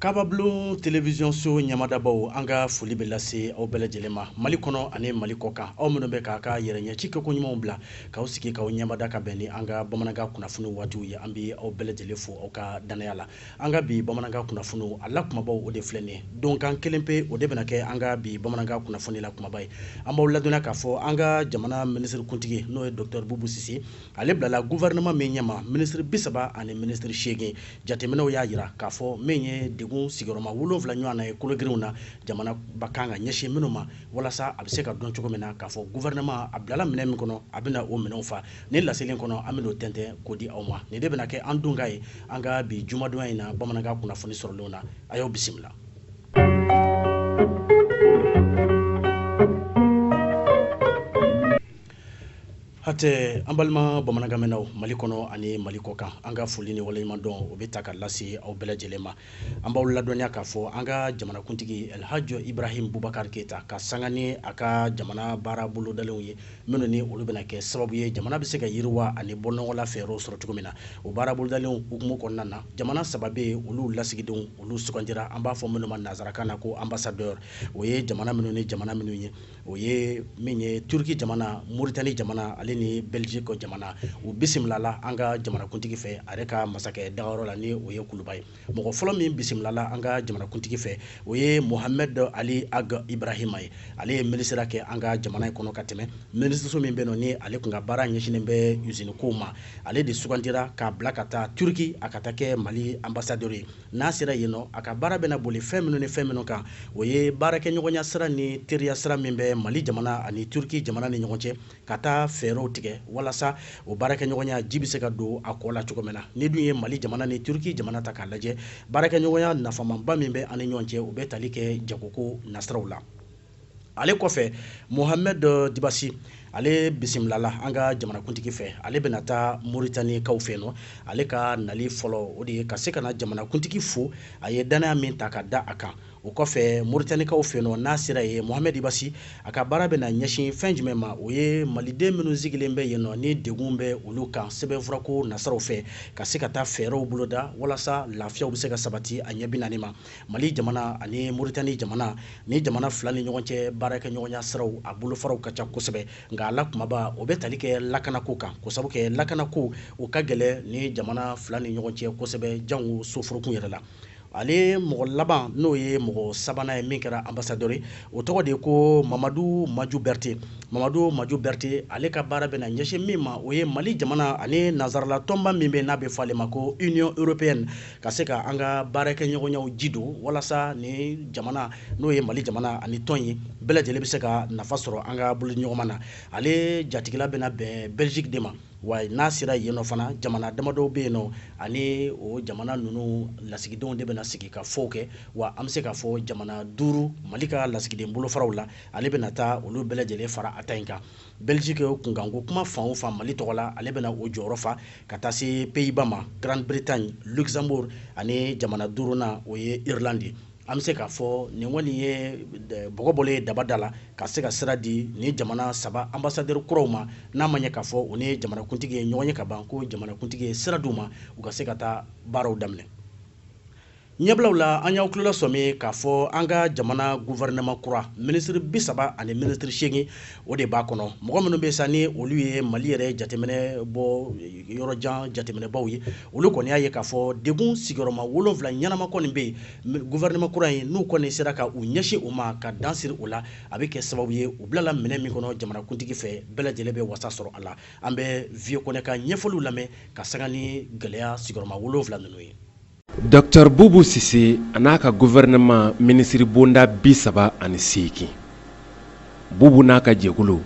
kababulon telewisiyonso ɲɛmadabaw an ka foli bɛ lase aw bɛɛ lajɛlen ma mali kɔnɔ ani mali kɔ kan aw minnu bɛ k'aw ka yɛrɛ ɲɛci kɛko ɲumanw bila k'aw sigi k'aw ɲɛmada ka bɛn ni an ka bamanankan kunnafoni waatiw ye an bɛ aw bɛɛ lajɛlen fo aw ka dannaya la an ka bi bamanankan kunnafoniw a la kumabaw o de filɛ nin ye donkan kelen pe o de bɛna kɛ an ka bi bamanankan kunnafoni la kumaba ye an b'aw ladɔnniya k'a fɔ an ka jamana minisiri kuntigi n'o ye dɔktɛr bubu sise ale bilala guvɛrɛnɛma min ɲɛma minisiri bi saba ani minisiri seegin jateminɛw y'a jira k'a fɔ min ye degun sigiyɔrɔma wolonfila ɲɔgɔn na ye kologirinw na jamana b'a kan ka ɲɛsin minnu ma walasa a bɛ se ka dɔn cogo min na k'a fɔ guvɛrɛnɛma a bilala minɛn min kɔnɔ a bɛna o minɛnw fa nin laseli kɔnɔ an bɛn'o tɛntɛn k'o di aw ma nin de bɛna kɛ an donkan ye an ka bi jumadonya in na bamanankan kunnafoni sɔrɔlenw na a y'o bisimila hatɛ an balima bamanankanmɛnnaw mali kɔnɔ ani mali kɔ kan an ka foli ni waleɲumandɔn o bɛ ta ka lase aw bɛɛ lajɛlen ma an b'aw ladɔnniya k'a fɔ an ka jamanakuntigi alhaji ibrahim bubakar keyita ka sanga ni a ka jamana baara bolodalenw ye minnu ni olu bɛna kɛ sababu ye jamana bɛ se ka yiriwa ani bɔnɔgɔla fɛɛrɛw sɔrɔ cogo min na o baara bolodalenw hukumu kɔnɔna na jamana saba bɛ yen olu lasigidenw olu sugandira an b'a fɔ minnu ma nanzarakan na ko ambassadeur o ye jamana minnu ni jamana minnu ye o ye min ye turuki jamana moritani jamana ale ni bɛliziki jamana u bisimilala an ka jamanakuntigi fɛ a yɛrɛ ka masakɛ dagayɔrɔ la ni o ye kuluba ye mɔgɔ fɔlɔ min bisimilala an ka jamanakuntigi fɛ o ye mohamɛd ali ag ibrahima ye ale ye minisiriya kɛ an ka jamana in kɔnɔ ka tɛmɛ minisiriso min bɛ ni ale tun ka baara ɲɛsinnen bɛ usinikow ma ale de sugandira k'a bila ka taa turuki a ka taa kɛ mali ambassadeur ye n'a sera yen nɔ a ka baara bɛna boli fɛn minnu ni fɛn minnu kan o ye baarakɛɲɔgɔnya sira ni teriya sira min bɛ mali jamana ani turki jamana ni ɲɔgɔn cɛ ka taa fɛɛrɛw tigɛ walasa o baarakɛɲɔgɔnya ji bɛ se ka don a kɔ la cogo min na n'i dun ye mali jamana ni turki jamana ta k'a lajɛ baarakɛɲɔgɔnya nafamanba min bɛ an ni ɲɔgɔn cɛ o bɛ tali kɛ jagoko nasiraw la ale kɔfɛ mohamɛd dibasi ale bisimilala an ka jamanakuntigi fɛ ale bɛna taa moritanikaw fɛ nɔ ale ka nali fɔlɔ o de ye ka se ka na jamanakuntigi fo a ye dannaya min ta ka da a kan o kɔfɛ moritanikaw fɛ nɔ n'a sera yen mohamɛd dibasi a ka baara bɛna ɲɛsin fɛn jumɛn ma o ye maliden minnu sigilen bɛ yen nɔ ni degun bɛ olu kan sɛbɛnfurako nasiraw fɛ ka se ka taa fɛɛrɛw boloda walasa lafiyaw bɛ se ka sabati a ɲɛ bi naani ma mali jamana ani moritani jamana nin jamana fila ni ɲɔgɔn cɛ baarakɛ ɲɔgɔnya siraw a bolofaraw ka ca kosɛbɛ nka a la kumaba o bɛ tali kɛ lakanako kan k'o sabu kɛ lakanako o ka gɛlɛn nin jamana fila ni ɲɔgɔn cɛ kosɛbɛ jango soforokun yɛrɛ la ale mɔgɔ laban n'o ye mɔgɔ sabanan ye min kɛra ambasadɛri o tɔgɔ de ye ko mamadu maju bɛrite mamadu maju bɛrite ale ka baara bɛna ɲɛsin min ma o ye mali jamana ani nanzarala tɔnba min bɛ n'a bɛ fɔ ale ma ko union européenne ka se ka an ka baarakɛɲɔgɔnyaw ji don walasa nin jamana n'o ye mali jamana ani tɔn in bɛɛ lajɛlen bɛ se ka nafa sɔrɔ an ka bolodiɲɔgɔnma na ale jatigila bɛna bɛn belgique de ma wa n'a sera yen nɔ fana jamana damadɔ bɛ yen nɔ ani o jamana ninnu lasigidenw de bɛna sigikafɔw kɛ wa an bɛ se k'a fɔ jamana duuru mali ka lasigiden bolofaraw la ale bɛna taa olu bɛɛ lajɛlen fara a ta in kan Belgique o kunkanko kuma fan o fan Mali tɔgɔ la, ale bɛna o jɔyɔrɔ fa ka taa se Pays-Bas ma, Grande Bretagne, Luxembourg ani jamana duurunan o ye Irlande ye. An bɛ se k'a fɔ nin kɔni ye bɔgɔ bɔlen ye daba da la ka se ka sira di nin jamana saba ambassadeur kuraw ma, n'a ma ɲɛ k'a fɔ u ni jamanakuntigi ye ɲɔgɔn ye ka ban, ko jamanakuntigi ye sira d'u ma u ka se ka taa baaraw daminɛ. ɲɛbilaw la an y'aw tulo lasɔmi k'a fɔ an ka jamana guvɛrɛnɛma kura minisiri bi saba ani minisiri seegin o de b'a kɔnɔ mɔgɔ minnu bɛ sa ni olu ye mali yɛrɛ jateminɛ bɔ yɔrɔjan jateminɛbaw ye olu kɔni y'a ye k'a fɔ degun sigiyɔrɔma wolonfila ɲɛnama kɔni bɛ yen guvɛrɛnɛma kura ɲɛ n'u kɔni sera ka u ɲɛsin o ma ka dan siri o la a bɛ kɛ sababu ye u bilala minɛn min kɔnɔ jamanakuntigi fɛ bɛɛ lajɛlen bɛ wasa sɔrɔ a la an bɛ vieux kɔnɛ ka ɲɛfɔliw lamɛn ka sanga ni gɛlɛya sigiyɔrɔma wolonfila ninnu ye Dɔkita bubu sise an'a ka guvɛrɛnɛma minisiri bonda bi saba ani seegin bubu n'a ka jɛkulu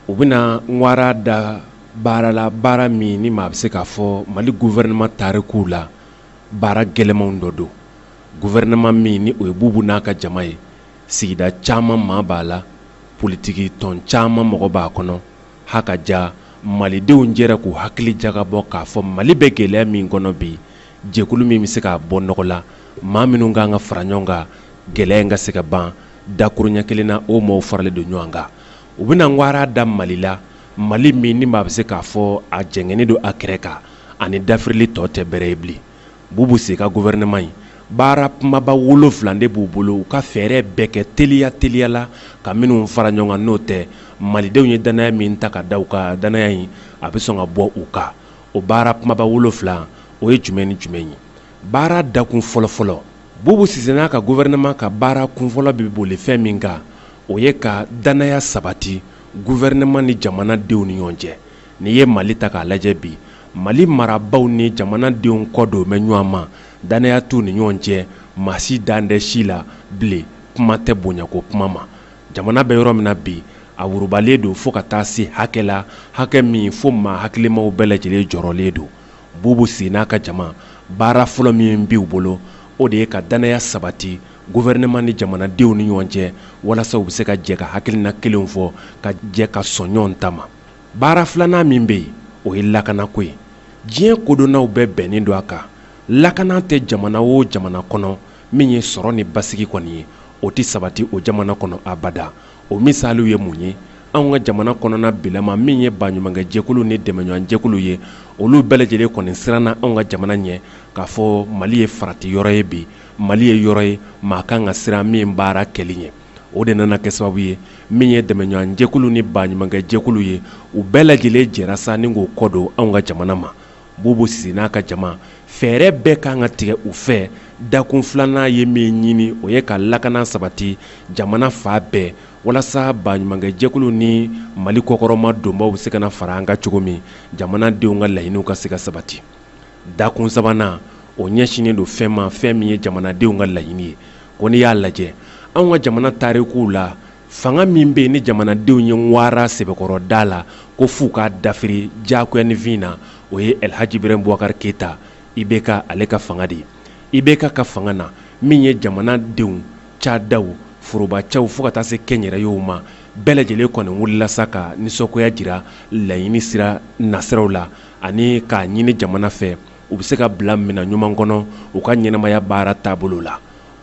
u bɛna wara da baara la baara min ni maa bɛ se k'a fɔ mali guvɛrɛnɛma tariku la baara gɛlɛnmanw dɔ don guvɛrɛnɛma min ni o ye bubu n'a ka jama ye sigida caman maa b'a la politigi tɔn caman mɔgɔ b'a kɔnɔ ha ka ja malidenw jɛra k'u hakili jagabɔ k'a fɔ mali bɛ gɛlɛya min kɔnɔ bi jɛkulu min bɛ se k'a bɔ nɔgɔ la maa minnu ka kan ka fara ɲɔgɔn kan gɛlɛya in ka se ka ban dakurunɲɛ kelen na o maaw faralen don ɲɔgɔn kan u bɛna wara da mali la mali min ni maa bɛ se k'a fɔ a jɛngɛnnen don a kɛrɛ kan ani dafirili tɔ tɛ bɛrɛ ye bilen Bubu sise ka gouvernement in baara kumaba wolonfila de b'u bolo u ka fɛɛrɛ bɛɛ kɛ teliya teliya la ka minnu fara ɲɔgɔn kan n'o tɛ malidenw ye dannaya min ta ka da u kan dannaya in a bɛ sɔn ka bɔ u kan o baara kumaba wolonfila o ye jumɛn ni jumɛn ye baara dakun fɔlɔfɔlɔ bubu sise n'a ka gouvernement ka baara kunfɔlɔ bɛ boli fɛn min kan o ye ka dannaya sabati gouvernement ni jamana denw ni ɲɔgɔn cɛ N'i ye Mali ta k'a lajɛ bi, Mali marabaaw ni jamanadenw kɔ don bɛ ɲɔgɔn ma, dannaya t'u ni ɲɔgɔn cɛ, maa si dalen tɛ si la bilen, kuma tɛ bonyako kuma ma. Jamana bɛ yɔrɔ min na bi, a wurubalen don fo ka taa se hakɛ la, hakɛ min fo maa hakilimaw bɛɛ lajɛlen jɔrɔlen don. Bubu Sise n'a ka jama, baara fɔlɔ min b'u bolo, o de ye ka dannaya sabati gouvernement ni jamanadenw ni ɲɔgɔn cɛ, walasa u bɛ se ka jɛ ka hakilina kelenw fɔ, ka jɛ ka sɔn ɲɔgɔn ta ma. baara filanan min bɛ yen o ye lakanako ye diɲɛ kodɔnnaw bɛɛ bɛnnen don a kan lakana tɛ jamana o jamana kɔnɔ min ye sɔrɔ ni basigi kɔni ye o tɛ sabati o jamana kɔnɔ abada o misaliw ye mun ye anw ka jamana kɔnɔna bilama min ye baɲumankɛjɛkulu ni dɛmɛɲɔgɔnjɛkulu ye olu bɛɛ lajɛlen kɔni siranna anw ka jamana ɲɛ k'a fɔ mali ye farati yɔrɔ ye bi mali ye yɔrɔ ye maa kan ka siran min baara kɛli ɲɛ o de nana kɛ sababu ye min ye dɛmɛɲɔgɔn jɛkulu ni baɲumankɛ jɛkulu ye u bɛɛ lajɛlen jɛra sa ni k'u kɔ don anw ka jamana ma bubu sise n'a ka jama fɛɛrɛ bɛɛ kan ka tigɛ u fɛ dakun filanan ye min ɲini o ye ka lakana sabati jamana fan bɛɛ walasa baɲumankɛ jɛkulu ni mali kɔkɔrɔmadonbaw bɛ se ka na fara an kan cogo min jamanadenw ka laɲiniw ka se ka sabati Dakun sabanan o ɲɛsinnen don fɛn ma fɛn min ye jamanadenw ka laɲini ye ko n'i y'a lajɛ anw ka jamana tarikuw la fanga min bɛ yen ni jamanadenw ye wara sɛbɛkɔrɔ da la ko f'u k'a dafiri diyafin na o ye alihaji iburahimu bubakari keyita IBK ale ka fanga de ye IBK ka fanga na min ye jamanadenw cadaw forobacaw fo ka taa se kɛnyɛrɛyew ma bɛɛ lajɛlen kɔni wulila sa ka nisɔngoya jira laɲini sira nasiraw la ani k'a ɲini jamana fɛ u bɛ se ka bila minɛn ɲuman kɔnɔ u ka ɲɛnamaya baara taabolo la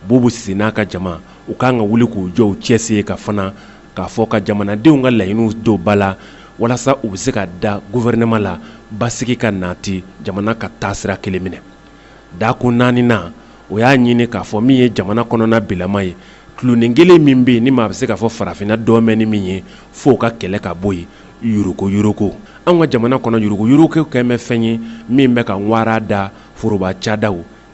bubu sise n'a ka jama u ka kan ka wuli k'u jɔ cɛ sen kan fana k'a fɔ ka jamanadenw ka laɲiniw don ba la walasa u bɛ se ka da gouvernement la basigi ka nati jamana ka taasira kelen minɛ Dakun naaninan o y'a ɲini k'a fɔ min ye jamana kɔnɔna bilama ye dulonin kelen min bɛ yen ni maa bɛ se k'a fɔ farafinna dɔmɛ ni min ye fo o ka kɛlɛ ka bɔ yen yuruguyuruguko an ka jamana kɔnɔ yuruguyurugu kɛlen bɛ fɛn ye min bɛ ka wara da foroba cada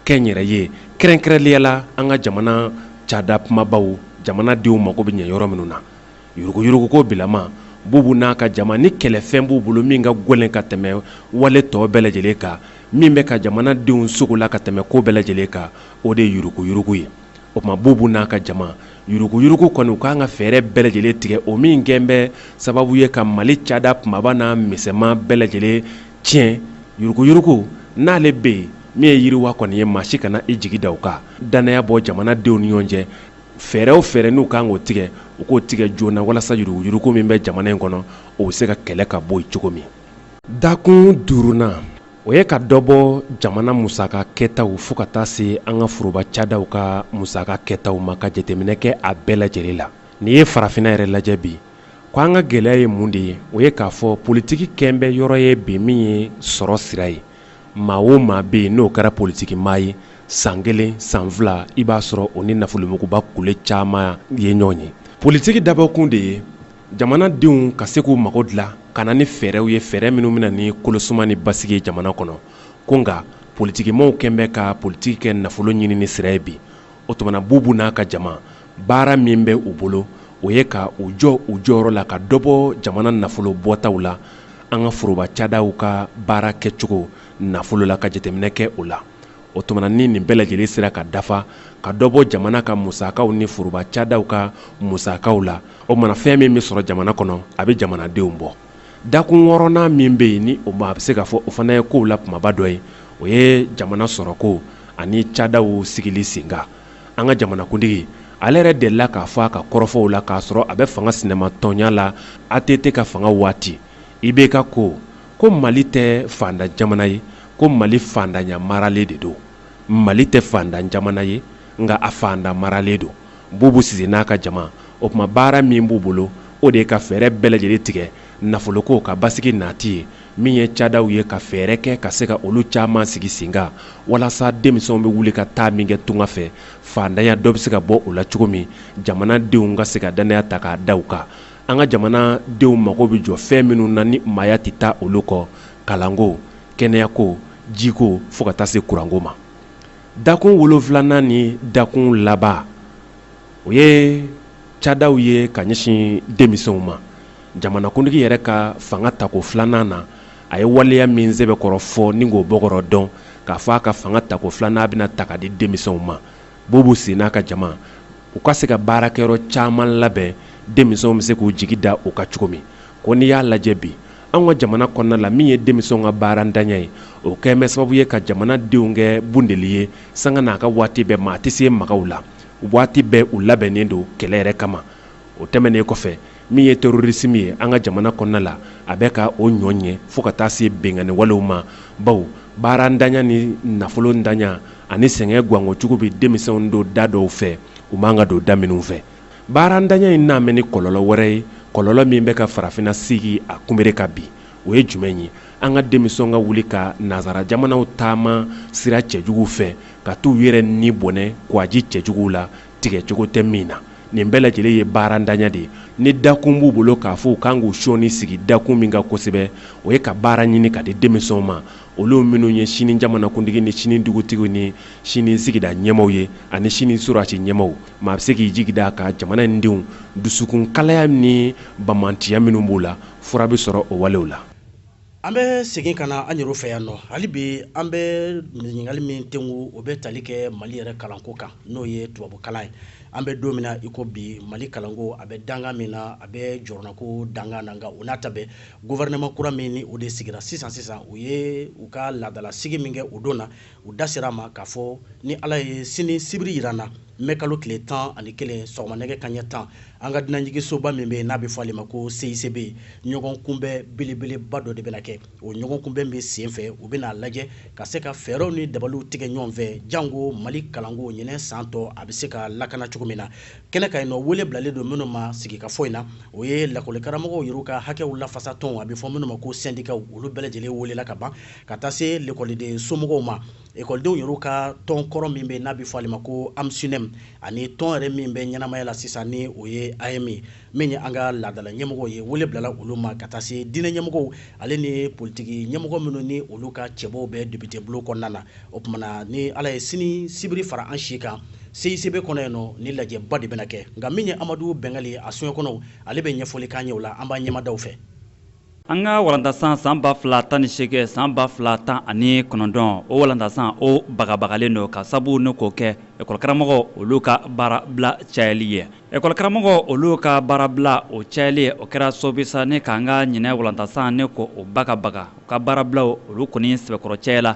kɛnyɛrɛye kɛrɛnkɛrɛnnenya la an ka jamana cada kunbabaw jamanadenw mago bɛ ɲɛ yɔrɔ minnu na Yuruguyuruguko bilama bubu n'a ka jama ni kɛlɛfɛn b'u bolo min ka gɛlɛn ka tɛmɛ wale tɔ bɛɛ lajɛlen kan min bɛ ka jamanadenw sɔgɔla ka tɛmɛ ko bɛɛ lajɛlen kan o de ye yuruguyurugu ye o tuma bubu n'a ka jama yuruguyurugu kɔni u ka kan ka fɛɛrɛ bɛɛ lajɛlen tigɛ o min kɛlen bɛ sababu ye ka mali cada kunbaba n'a misɛnman bɛɛ lajɛlen tiɲɛ yuruguyurugu n'ale bɛ yen min ye yiriwa kɔni ye maa si kana i jigi da o kan dannaya bɔ jamanadenw ni ɲɔgɔn cɛ fɛɛrɛ o fɛɛrɛ n'u kan k'o tigɛ u k'o tigɛ joona walasa yuruguyurugu min bɛ jamana in kɔnɔ o bɛ se ka kɛlɛ ka bɔ yen cogo min dakun duurunan o ye ka dɔ bɔ jamana musaka kɛtaw fo ka taa se an ka foroba cadaw ka musaka kɛtaw ma ka jateminɛ kɛ a bɛɛ lajɛlen la n'i ye farafinna yɛrɛ lajɛ bi ko an ka gɛlɛya ye mun de ye o ye k'a fɔ politiki kɛlen bɛ yɔrɔ ye bi min ye sɔrɔ sira ye maa o maa bɛ yen n'o kɛra politigi maa ye san kelen san fila i b'a sɔrɔ o ni nafolomuguba kule caman ye ɲɔgɔn ye politigi dabɔkun de ye jamanadenw ka se k'u mago dilan ka na ni fɛɛrɛw ye fɛɛrɛ minnu bɛna ni kolosuma ni basigi ye jamana kɔnɔ ko nka politigi maaw kɛlen bɛ ka politigi kɛ nafolo ɲinini sira ye bi o tuma bubu n'a ka jama baara min bɛ u bolo o ye ka u jɔ u jɔyɔrɔ la ka dɔ bɔ jamana nafolo bɔtaw la an ka foroba cadaw ka baara kɛcogo nafolo la ka jateminɛ kɛ o la o tuma ni nin bɛɛ lajɛlen sera ka dafa ka dɔ bɔ jamana ka musakaw ni foroba cadaw ka musakaw la o mana fɛn min bɛ sɔrɔ jamana kɔnɔ a bɛ jamanadenw bɔ dakun wɔɔrɔnan min bɛ yen ni o maa bɛ se k'a fɔ o fana ye kow la kunbaba dɔ ye o ye jamana sɔrɔko ani cadaw sigili sen kan an ka jamanakuntigi ale yɛrɛ delila k'a fɔ a ka kɔrɔfɔw la k'a sɔrɔ a bɛ fanga sinamatɔnya la att ka fanga waati ibk ko ko mali tɛ faantan jamana ye ko mali faantanya maralen de don mali tɛ faantan jamana ye nka a faantan maralen don bubu sise n'a ka jama o tuma baara min b'u bolo o de ye ka fɛɛrɛ bɛɛ lajɛlen tigɛ nafoloko ka basigi naati ye min ye cadaw ye ka fɛɛrɛ kɛ ka se ka olu caman sigi sen kan walasa denmisɛnw bɛ wuli ka taa min kɛ tunga fɛ faantanya dɔ bɛ se ka bɔ o la cogo min jamana denw ka se ka dannaya ta k'a da u kan an ka jamana denw mago bɛ jɔ fɛn minnu na ni maaya tɛ taa olu kɔ kalanko kɛnɛyako jiko fo ka taa se kuranko ma dakun wolonfilanan ni dakun laban o ye cadaw ye ka ɲɛsin denmisɛnw ma jamanakuntigi yɛrɛ ka fanga tako filanan na a ye waleya min sɛbɛkɔrɔ fɔ ni k'o bɔkɔrɔ dɔn k'a fɔ a ka fanga tako filanan a bɛna ta k'a di denmisɛnw ma bubu sise n'a ka jama u ka se ka baarakɛyɔrɔ caman labɛn denmisɛnw bɛ se k'u jigi da u kan cogo min ko n'i y'a lajɛ bi an ka jamana kɔnɔna la min ye denmisɛnw ka baarantanya ye o kɛlen bɛ sababu ye ka jamanadenw kɛ bunteni ye sanga n'a ka waati bɛɛ maa tɛ se maga u la waati bɛɛ u labɛnnen don kɛlɛ yɛrɛ kama o tɛmɛnen kɔfɛ min ye terrorisme ye an ka jamana kɔnɔna la a bɛ ka o ɲɔ ɲɛ fo ka taa se binkanni walew ma bawo baarantanya ni nafolontanya ani sɛgɛn gwan kojugu bɛ denmisɛnw don da dɔw fɛ u man kan ka don da minnu fɛ baarantanya in nalen bɛ ni kɔlɔlɔ wɛrɛ ye kɔlɔlɔ min bɛ ka farafinna sigi a kunbere kan bi o ye jumɛn ye an ka denmisɛn ka wuli ka nansara jamanaw taama sira cɛjugu fɛ ka taa u yɛrɛ ni bɔnɛ kwaji cɛjugu la tigɛcogo tɛ min na nin bɛɛ lajɛlen ye baarantanya de ye ni dakun b'u bolo k'a fɔ u kan k'u sɔɔni sigi dakun min kan kosɛbɛ o ye ka baara ɲini k'a di denmisɛnw ma olu minnu ye sini jamanakuntigi ni sini dugutigiw ni sini sigida ɲɛmaw ye ani sini sɔrɔdasi ɲɛmaw maa bɛ se k'i jigi da ka jamana in denw dusukun kalaya ni banbaantiya minnu b'u la fura bɛ sɔrɔ o walew la an bɛ segin ka na an yɛrɛ fɛ yan nɔ hali bi an bɛ ɲininkali min tɛnku o bɛ tali kɛ mali yɛrɛ kalanko kan n'o ye tubabukalan ye an bɛ don min na iko bi mali kalanko a bɛ danga min na a bɛ jɔrɔnako danga na nka o n'a ta bɛɛ guvɛrɛnɛman kura min ni o de sigira sisan sisan u ye u ka laadalasigi min kɛ o don na u da sera a ma k'a fɔ ni ala ye sini sibiri jira an na mɛkalo tile tan ani kelen sɔgɔma nɛgɛ kanɲɛ tan an ka dunanjigisoba min bɛ yen n'a bɛ fɔ ale ma ko cicb ɲɔgɔn kunbɛn belebeleba dɔ de bɛna kɛ o ɲɔgɔn kunbɛnba sen fɛ u bɛna a lajɛ ka se ka fɛɛrɛw ni dabaliw tigɛ ɲɔgɔn fɛ janko mali kalanko ɲinɛ san tɔ a bɛ se ka lakana cogo min na kɛnɛ kan yen nɔ wele bilalen don minnu ma sigikafɔ in na o ye lakɔlikaramɔgɔw yɛrɛ ka hakɛw lafasa tɔnw a bɛ fɔ minnu ma ko sɛndikaw olu bɛɛ lajɛlen welela ka ban ka taa se lekɔliden somɔgɔw ma ekɔlidenw yɛrɛ ka tɔn kɔrɔ min bɛ n'a bɛ fɔ ale ma ko AMSUNEEM ani tɔn yɛrɛ min bɛ ɲɛnamaya la sisan ni o ye AEEM min ye an ka laadala ɲɛmɔgɔw ye wele bilala olu ma ka taa se diinɛ ɲɛmɔgɔw ale ni politigi ɲɛmɔgɔ minnu ni olu ka cɛbɔ bɛ depitebulon kɔnɔna na o tuma na ni ala ye sini sibiri fara an si kan CICB kɔnɔ yen nɔ ni lajɛba de bɛna kɛ nka min ye amadu bɛngali a soɲɛ kɔnɔ ale bɛ ɲɛfɔli k'an ye o la an b'a ɲɛmadaw fɛ an ka walandasan san ba fila tan ni seegin san ba fila tan ani kɔnɔntɔn o walandasan o bagabagalen don ka sabu ni k'o kɛ ekɔlikaramɔgɔ olu ka baarabila cayali ye ekɔlikaramɔgɔ olu ka baarabila o cayali o kɛra sabu ye sa ni k'an ka ɲinɛ walandasan ni ka o bagabaga u ka baarabilaw olu kɔni sɛbɛkɔrɔ cayala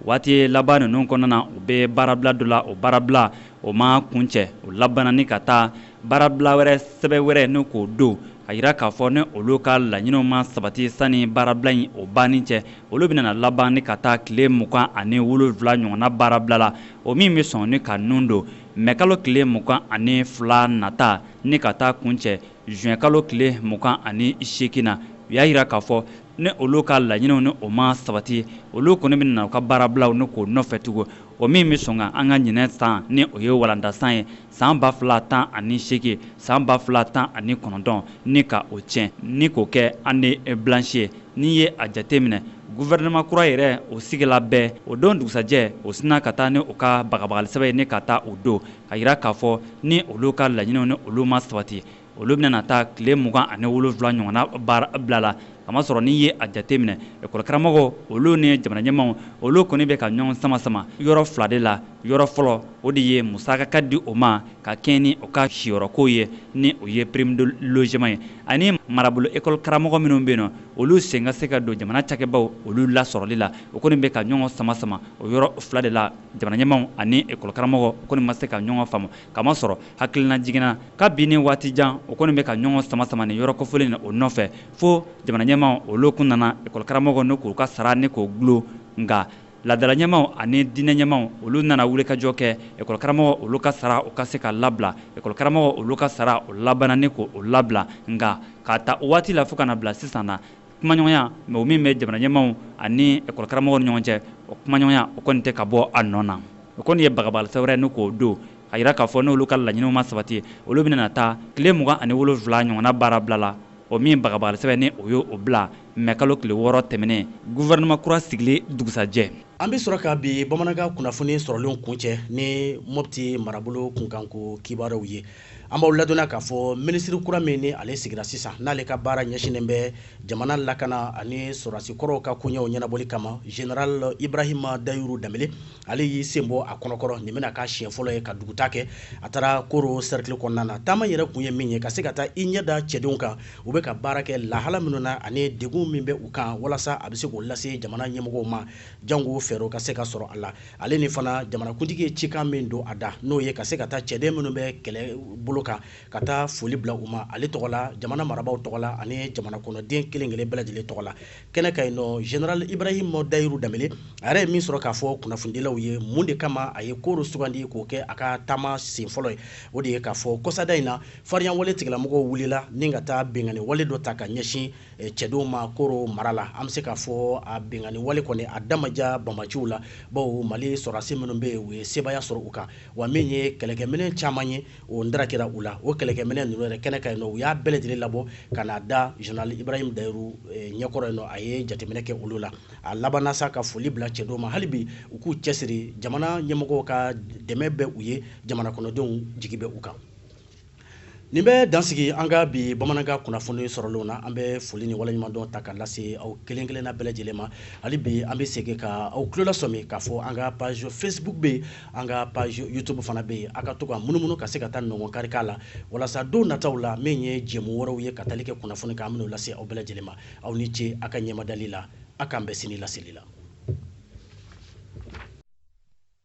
waati laban ninnu kɔnɔna na u bɛ baarabila dɔ la o baarabila o ma kuncɛ o labanna ni ka taa baarabila wɛrɛ sɛbɛ wɛrɛ ni k'o don a yira k'a fɔ ni olu ka laɲiniw ma sabati sani baarabila in o banni cɛ olu bɛna laban ni ka taa tile mugan ani wolonwula ɲɔgɔnna baarabila la o min bɛ sɔn ni ka nun don mɛkalo tile mugan ani fila nata ni ka taa kuncɛ zuwɛnkalo tile mugan ani seegin na u y'a jira k'a fɔ ni olu ka laɲiniw ni o ma sabati olu kɔni bɛna u ka baarabila ni k'o nɔfɛ tugun o min bɛ sɔn ka an ka ɲinɛ san ni o ye walandasan ye san ba fila tan ani seegin san ba fila tan ani kɔnɔntɔn ni ka o tiɲɛ ni k'o kɛ année blanche ye n'i ye a jateminɛ guvɛrɛnɛman kura yɛrɛ o sigila bɛɛ o don dugusajɛ u sinna ka taa ni u ka bagabagalisɛbɛ ye ni ka taa o don k'a jira k'a fɔ ni olu ka laɲiniw ni olu ma sabati olu bɛna taa tile mugan ani wolonwula ɲɔgɔnna baara bila la a masɔrɔ n'i ye a jate minɛ ekɔli karamɔgɔw olu ni jamana ɲɛmaw olu kɔni bɛ ka ɲɔgɔn sama sama yɔrɔ fila de la yɔrɔ fɔlɔ o de ye musaka ka di o ma ka kɛɲɛ ni o ka siyɔrɔko ye ni o ye prime de logement ye ani marabolo ekɔli karamɔgɔ minnu bɛ yen nɔ olu sen ka se ka don jamana cakɛbaw olu lasɔrɔli la o kɔni bɛ ka ɲɔgɔn sama sama o yɔrɔ fila de la jamana ɲɛmaw ani ekɔli karamɔgɔw kɔni ma se ka ɲɔgɔn faamu kamasɔrɔ hakilina jigin na kabini waati jan o kɔni bɛ ka ɲɔgɔn sama sama nin yɔrɔ kofɔlen na o nɔfɛ fo jamanaɲɛmaw olu kun nana ekɔlikaramɔgɔw ni k'u ka sara ni k'o gulo nka laadalaɲɛmaw ani diinɛɲɛmaw olu nana wulikajɔ kɛ ekɔlikaramɔgɔ olu ka sara o ka se ka labila ekɔlikaramɔgɔ olu ka sara o labanna ni k'o labila nka k'a ta o waati la fo ka na bila sisan na kumaɲɔgɔnya min o min bɛ jamana ɲɛmaw ani ekɔli karamɔgɔw ni ɲɔgɔn cɛ o kumaɲɔgɔnya o kɔni tɛ ka bɔ a nɔ na o kɔni ye bagabagalisɛbɛn wɛrɛ ni k'o don a jira k'a fɔ n'olu ka laɲiniw ma sabati olu bɛna taa tile mugan ani wolonwula ɲɔgɔnna baara bila la o min bagabagalisɛbɛn ni o y'o bila mɛ kalo tile wɔɔrɔ tɛmɛnen guvɛrɛnɛma kura sigili dugusajɛ an bɛ sɔrɔ ka bi bamanankan kunnafoni sɔrɔlenw kuncɛ ni mɔpti marabolo kunkanko kibaruyaw ye an b'aw ladɔnniya k'a fɔ minisiri kura min ni ale sigira sisan n'ale ka baara ɲɛsinnen bɛ jamana lakana ani sɔrɔdasi kɔrɔw ka koɲɛw ɲɛnabɔli kama general ibrahima dayuru danbele ale y'i sen bɔ a kɔnɔkɔrɔ nin bɛna k'a siɲɛ fɔlɔ ye ka dugutaa kɛ a taara koro sɛrikili kɔnɔna na taama yɛrɛ kun ye min ye ka se ka taa i ɲɛ da cɛdenw kan u bɛ ka baara kɛ lahala minnu na ani degun min bɛ u kan walasa a bɛ se k'o lase jamana ɲɛmɔgɔw ma jango fɛɛrɛw ka se ka sɔrɔ a la ale ni fana jamanakuntigi ye cikan min don a da n'o ye ka se ka taa cɛden minnu bɛ kɛlɛ bolo kan ka taa foli bila u ma ale tɔgɔ la jamana marabaaw tɔgɔ la ani jamana kɔnɔden kelen kelen bɛɛ lajɛlen tɔgɔ la kɛnɛ kan yen nɔ general ibrahim dayiru danbele a yɛrɛ ye min sɔrɔ k'a fɔ kunnafonidilaw ye mun de kama a ye koro sugandi k'o kɛ a ka taama sen fɔlɔ ye o de ye k'a fɔ kɔsada in na fariyawale tigilamɔgɔw wulila ni ka taa binkanni wale dɔ ta ka ɲɛsin Eh, cɛdenw ma koro mara la an bɛ se ka fɔ a binkanni wale kɔni a da ma diya banbaanciw la bawo mali sɔrɔdasi minnu bɛ yen u ye sebaaya sɔrɔ u kan wa min ye kɛlɛkɛminɛn caman ye o ndara kɛra u la o kɛlɛkɛminɛn ninnu yɛrɛ kɛnɛ kan yen nɔ u y'a bɛɛ lajɛlen labɔ ka na da general ibrahim dayiru eh, ɲɛkɔrɔ yen nɔ a ye jateminɛ kɛ olu la a labanna sa ka foli bila cɛdenw ma hali bi u k'u cɛsiri jamana ɲɛmɔgɔw ka dɛmɛ bɛ u ye jamana kɔnɔdenw jigi bɛ u kan nin bɛ dan sigi an ka bi bamanankan kunnafoni sɔrɔlenw na an bɛ foli ni waleɲumandɔn ta ka lase aw kelen kelenna bɛɛ lajɛlen ma hali bi an bɛ segin ka aw tulo lasɔmi k'a fɔ an ka page facebook bɛ yen an ka page youtube fana bɛ yen a ka to ka munumunu ka se ka taa nɔngɔn kari k'a la walasa don nataw la min ye jɛmu wɛrɛw ye ka tali kɛ kunnafoni kan an bɛn'o lase aw bɛɛ lajɛlen ma aw ni ce a ka ɲɛmadali la a k'an bɛn sini laseli la